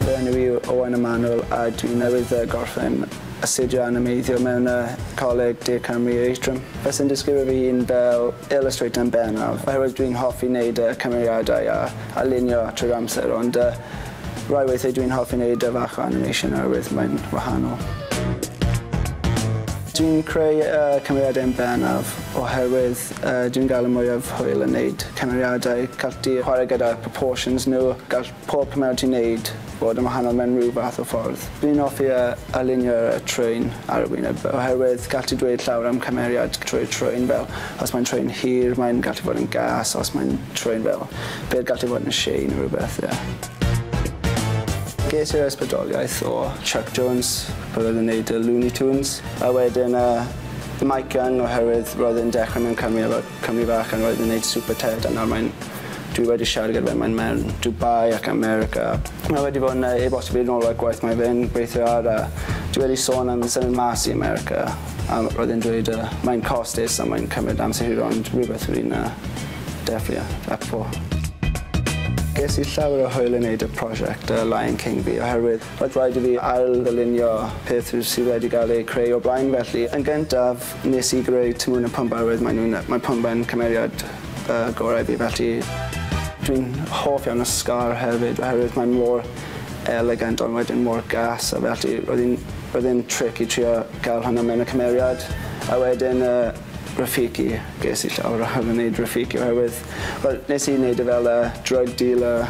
Fy enw i yw Owain Emanuel a dwi newydd gorffen astudio animeiddio mewn y Coleg De Cymru Atrium. Fyswn disgrifio fy hun fel illustrator yn bennaf oherwydd dwi'n hoffi neud y cymeriadau a a lunio trwy'r amser ond yy Rai weithiau dwi'n hoffi neud e fach o animation oherwydd mae'n wahanol. Dwi'n creu y cymeriadau yn bennaf oherwydd yy dwi'n gael y mwyaf hwyl yn neud cymeriadau. Gall di chwarae gyda proportions nhw, gall pob cymeriad ti'n neud fod yn wahanol mewn rhyw fath o ffordd. Dwi'n hoffi yy alinio y trên ar y wyneb oherwydd gall ti dweud llawer am cymeriad trwy'r trên fel os mae'n trên hir mae'n gallu bod yn gas os mae'n trên fel Bydd gallu bod yn shei neu rhywbeth, ie. Ges i'r ysbrydoliaeth o Chuck Jones pan oedd e'n neud y Looney Tunes, a wedyn yy Mike Young oherwydd roedd e'n dechrau mewn cwmni efo cwmni fach a roedd e'n neud Super Ted a nawr mae'n... dwi wedi siarad gyda fe mae'n mewn Dubai ac America. Mae wedi bod yn yy e-bostio fi nôl ar gwaith mae fe'n gweithio ar a dwi wedi sôn am symud mas i America a roedd e'n dweud yy mae'n costus a mae'n cymryd amser hir ond rhywbeth rwy'n yy Defnio, Appo. Ges i llawer o hwyl yn neud y prosiect The Lion King fi oherwydd roedd rhaid i fi ail-ddylunio peth sydd wedi gael eu creu o blaen felly yn gyntaf nes i greu Timon a Pumba roedd maen nhw'n mae Pumba'n cymeriad y gorau i fi felly dwi'n hoff iawn o Scar hefyd oherwydd mae mor elegant ond wedyn mor gas a felly roedd hi'n roedd e'n tric i trio gael hwnna mewn y cymeriad a wedyn y Rafiki. Ges i llawer o hawdd yn neud Rafiki oherwydd wel nes i neud e fel yy drug dealer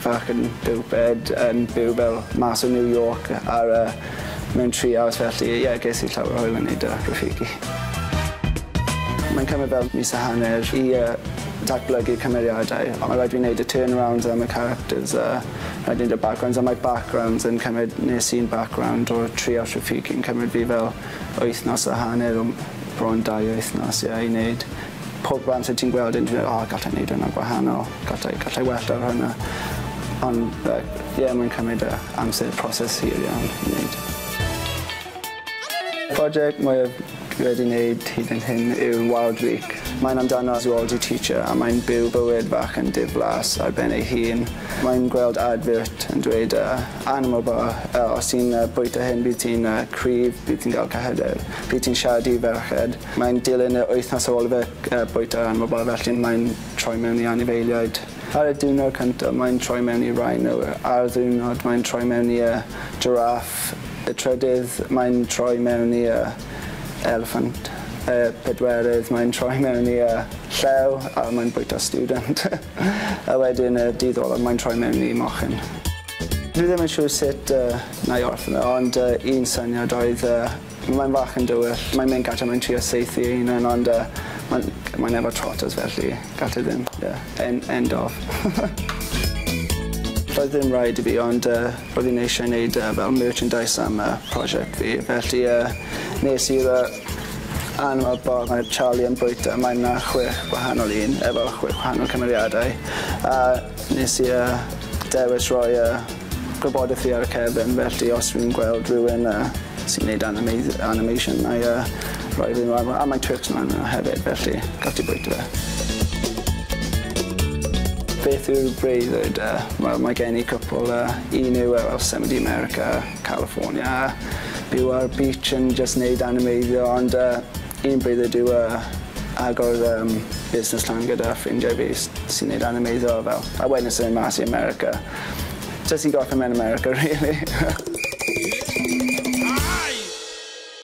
fach yn Buwchbed yn byw fel mas o New York ar yy mewn treehouse felly ie ges i llawer o hwyl yn neud yy Rafiki. Mae'n cymryd fel mis a hanner i yy datblygu cymeriadau on' ma' raid fi neud y turnarounds am y characters a rhaid neud y backgrounds a mae backgrounds yn cymryd nes un background o treehouse Rafiki yn cymryd fi fel wythnos a hanner o bron dau wythnos ie i neud pob amser ti'n gweld e'n dweud o gallai neud hwnna gwahanol gallai gallai well ar hwnna ond yy ie mae'n cymryd yy amser proses hir iawn i neud. Project mwyaf dwi wedi neud hyd yn hyn yw Wild Week. Mae'n amdano Zoology teacher a mae'n byw bywyd fach yn diflas ar ben ei hun. Mae'n gweld advert yn dweud yy Anna mor dda. Os ti'n bwyta hyn bydd ti'n cryf, bydd ti'n gael cyhyder, bydd ti'n siarad i ferched. Mae'n dilyn yr wythnos ar ôl i fe bwyta Anna mor dda felly mae'n troi mewn i anifeiliaid. Ar y diwrnod cyntaf mae'n troi mewn i rhino, a'r ddiwrnod mae'n troi mewn i jiráff, y trydydd mae'n troi mewn i eliffant, y pedwerydd mae'n troi mewn i llew a mae'n bwyta stiwdant. A wedyn y dydd olaf mae'n troi mewn i mochyn. Dwi ddim yn siŵr sut yy na'i orffen e ond yy un syniad oedd yy mae'n fach yn dywyll mae'n mynd gatre mae'n trio saethu ei hunan ond yy mae'n mae'n efo trotters felly gall e ddim ie en- end of. Doedd ddim raid i fi ond yy roedd hi'n eisiau neud yy fel merchandise am yy prosiect fi felly yy nes i'r yy Yn y bâr mae Charlie yn bwyta mae 'na chwech gwahanol un efo chwech gwahanol cymeriadau a nes i yy dewis roi yy gwybodeth fi ar y cefn felly os fi'n gweld rywun yy sy'n neud animeidd- animation nâi yy roi fe mlan a mae Twix mlan yna hefyd felly gall di bwyta fe. Beth yw'r breuddwyd yy wel mae gen i cwpwl yy un yw yy wel symud i America California a byw ar y beach yn jyst neud animeiddio ond yy un bryd yw yy agor yym busnes lan gyda ffrindiau fi s- sy'n neud animeiddio a fel a wedyn symud mas i America. Jyst i gorffen mewn America rili.